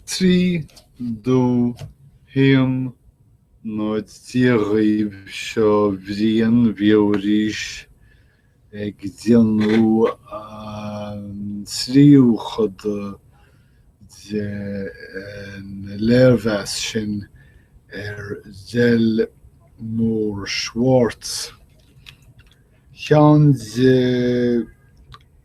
Trí dó haon náid Dia dhaoibh seo Brian ar ais arís ag déanamh an tríú cuid den léirmheas sin ar Delmore Schwartz, ceann de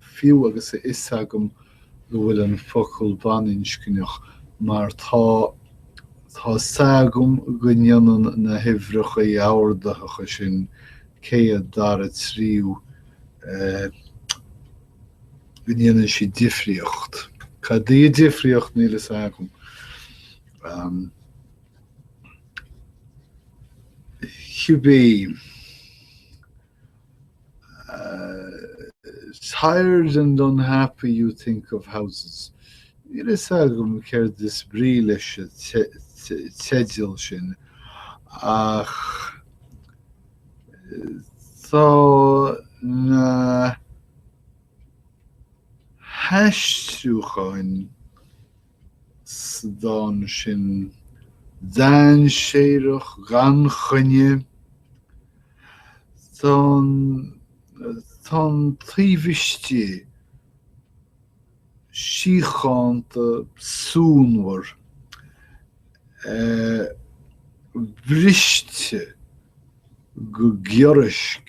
fiú agus a fhios agam go bhfuil an focal baininscneach, mar tá, tá 's agam go ndéanann na huimhreacha ordaitheacha sin, céad, dara, tríú, eh. go ndéanann siad difríocht. Cad í an difríocht, níl fhios agam. Ahm. Cibé. tired and unhappy you think of houses'. Níl a fhios agam céard is brí leis an teideal sin ach tá na haistriúcháin sa dán sin, dainséarach, gan choinne. Tá an tá an taobh istigh síochánta suanmhar briste go giorraisc.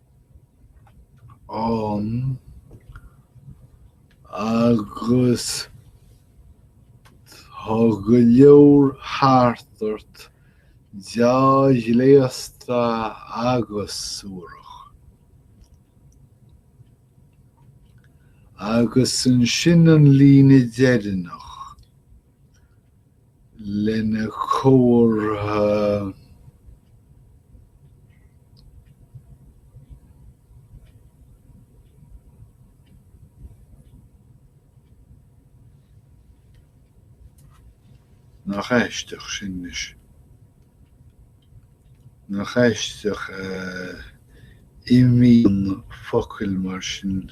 ann agus tá go leor thart ort, deá-ghléasta agus suarach. Agus ansin an líne deireanach. lena chomhartha Nach aisteach sin anois? Nach aisteach a imíonn focail mar sin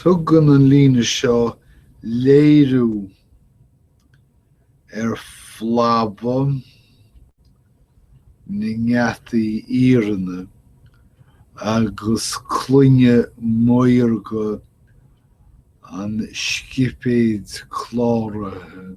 Tugann an líne seo léiriú ar phlabadh na ngeataí iarainn agus cloigne maorga an scipéid cláraithe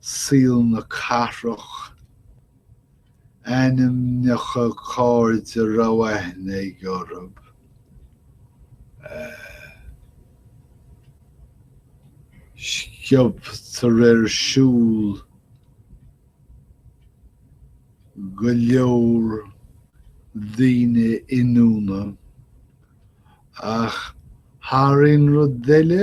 saol na cathrach, ainmneacha cairde a raibh aithne aige orthu, sciobtar ar siúl go leor daoine ionúine, ach thar aon rud eile,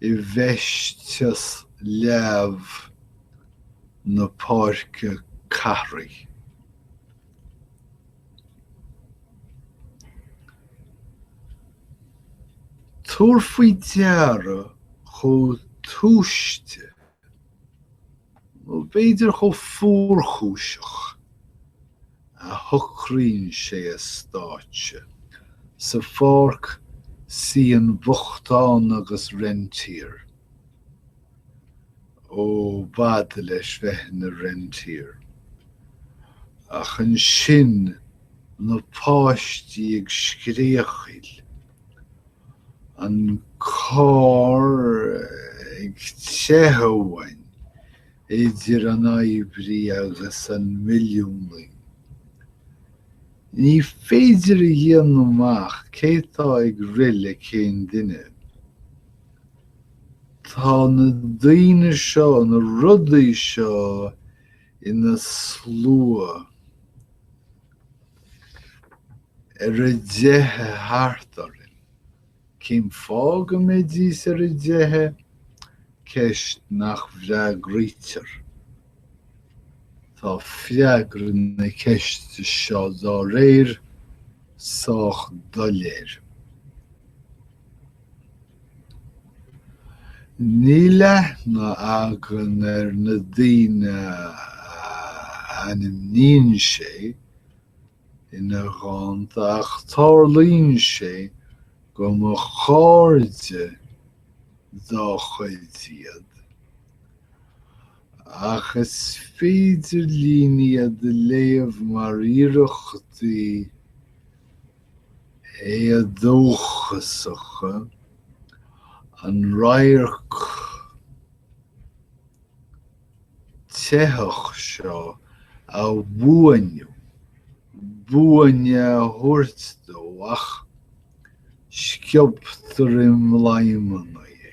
i bhfeisteas leamh na páirce cathrach. Tabhair faoi deara chomh túisce. nó b'fhéidir chomh fuarchúiseach, a shocraíonn sé a stáitse sa pháirc síon, bochtán agus rentier, ó, b'fhada leis bheith ina rentier, ach ansin na páistí ag scréachaíl, an carr ag teacht, idir an oibrí agus an milliúnaí. Ní féidir a dhéanamh amach cé atá ag rith le cén duine. Tá na daoine seo, na rudaí seo ina slua. ar a dteitheadh thart orainn. Cén fáth go mbeidís ar a dteitheadh? Ceist nach bhfreagraítear. Tá freagra na ceiste seo, dá réir, sách doiléir. Níl aithne againn ar na daoine a ainmníonn sé ina dhánta ach tarlaíonn sé go mba cairde dá chuid iad, ach is féidir linn iad a léamh mar iarrachtaí, éadóchasacha, an radharc teite seo a bhuanú, buaine a thabhairt dó ach sciobtar i mbladhmanna é.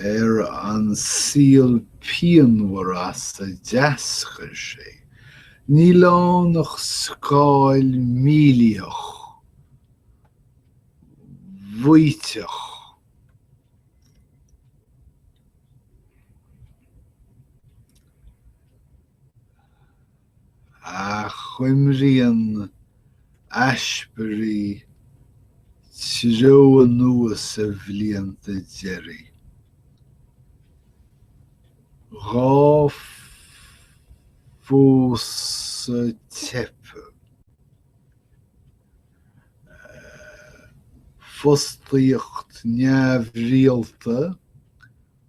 ar an saol pianmhar as a d'eascair sé, níl ann ach scáil mhílítheach, mhaíteach. Achoimríonn Ashbery treo anuas a bhlianta deiridh. Dhá phósadh teipthe, fostaíocht neamhrialta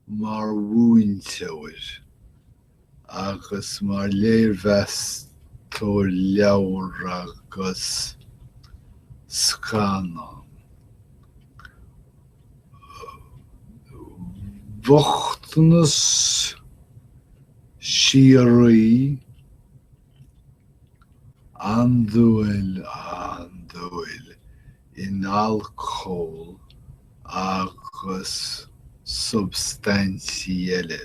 mar mhúinteoir agus mar léirmheastóir leabhar agus scannán, bochtanas síoraí Andúil, andúil, in alcól agus substaintí eile.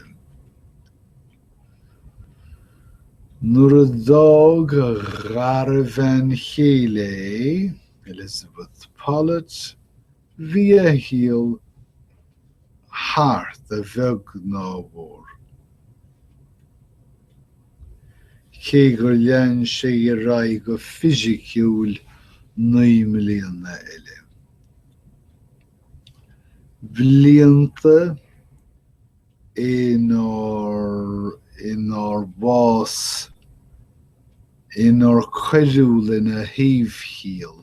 Nuair a d'fhág a dhara bhean chéile é, Elizabeth Pollet, Bhí a shaol thart a bheag ná a mhór. Cé gur lean sé ar aghaidh go fisiciúil naoi mbliana eile, blianta inar bhás, inar cuireadh lena shaobhchiall,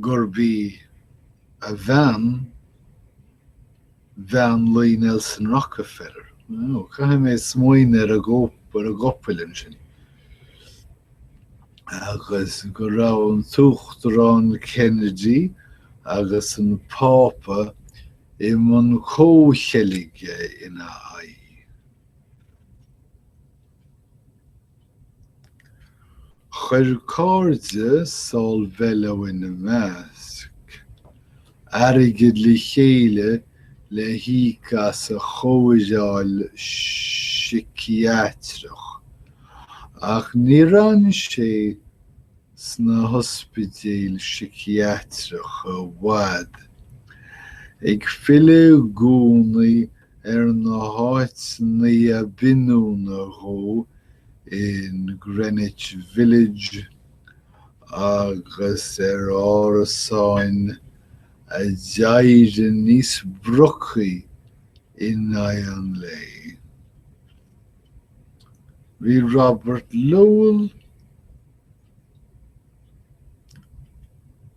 gurb í a bhean bhean luí Nelson Rockefeller. Ó, caithfidh mé smaoineamh ar an gcopail ansin. Agus go raibh an tUachtarán Kennedy agus an Pápa i mbun comhcheilge ina aghaidh. Chuir cairde Saul Bellow ina measc, airgead le chéile le híoc as a chóireáil síciatrach, ach níor fhan sé sna hospidéil síciatracha i bhfad, ag filleadh i gcónaí ar na háiteanna ab ionúine dhó in Greenwich Village agus ar árasáin a d'éirigh níos brocaí in aghaidh an lae. Bhí Robert Lowell.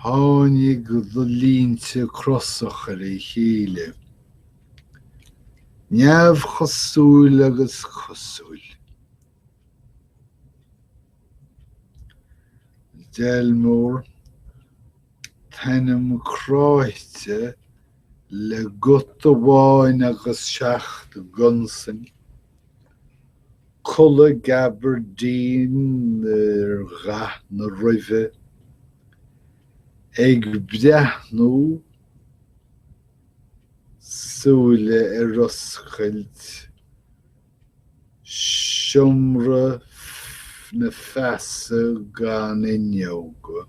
Tháinig do línte crosach ar a chéile, neamhchosúil agus cosúil. Delmore, t'ainm cráite le guta amháin agus seacht gconsain. Culaith gabardine ar dhath na ruibhe, ag breathnú súile ar oscailt seomra na feasa gan fhuinneoga.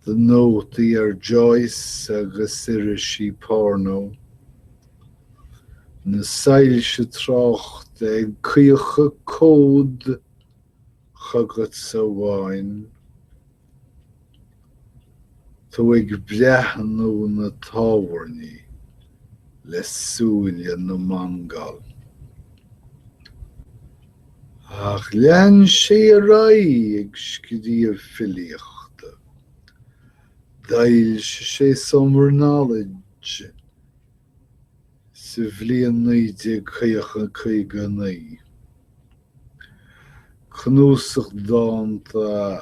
Do nótaí ar Joyce agus irisí porno. na soilse tráchta ag caochadh cód chugatsa amháin, tú ag breathnú na tábhairní le súile na Mongól. Ach lean sé ar aghaidh ag scríobh filíochta. D'fhoilsigh sé Summer Knowledge. sa bhliain 1959. Cnuasach dánta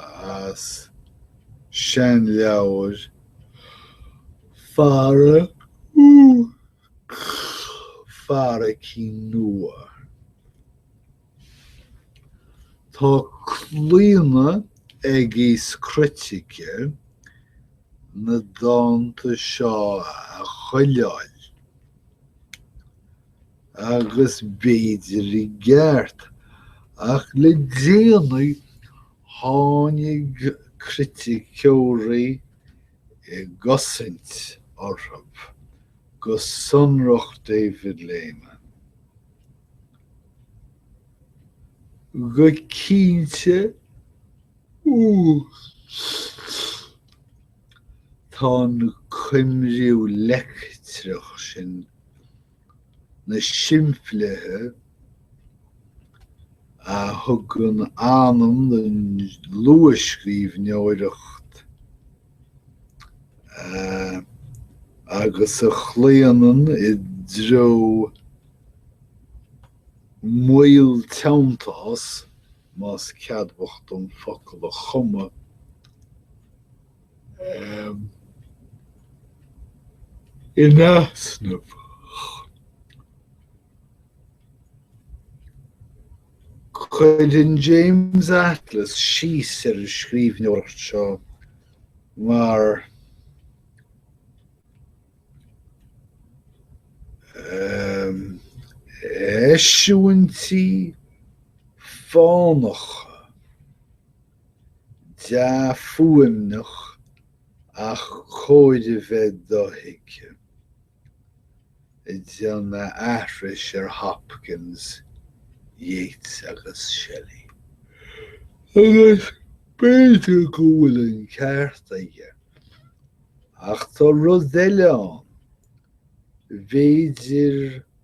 as seanleabhair fara fara cinn nua. Tá claonadh ag aos critice na dánta seo a chuileáil agus b'fhéidir i gceart ach le déanaí tháinig criticeoirí i gcosaint orthu, go sonrach David Lehman. go cinnte tá an coimriú leictreach sin, na simplithe a thugann anam don luathscríbhneoireacht, agus a chlaonann i dtreo moill teanntás, más ceadmhach dom focal a chumadh, in easnamh. Cuireann James Atlas síos ar an scríbhneoireacht seo mar 'eisiúintí fánacha dea-fhuaimneacha ach cóir a bheith dothuigthe'. ag déanamh aithris ar Hopkins, Yeats agus Shelley. Agus b'fhéidir go bhfuil an ceart aige. Ach tá rud eile ann. B'fhéidir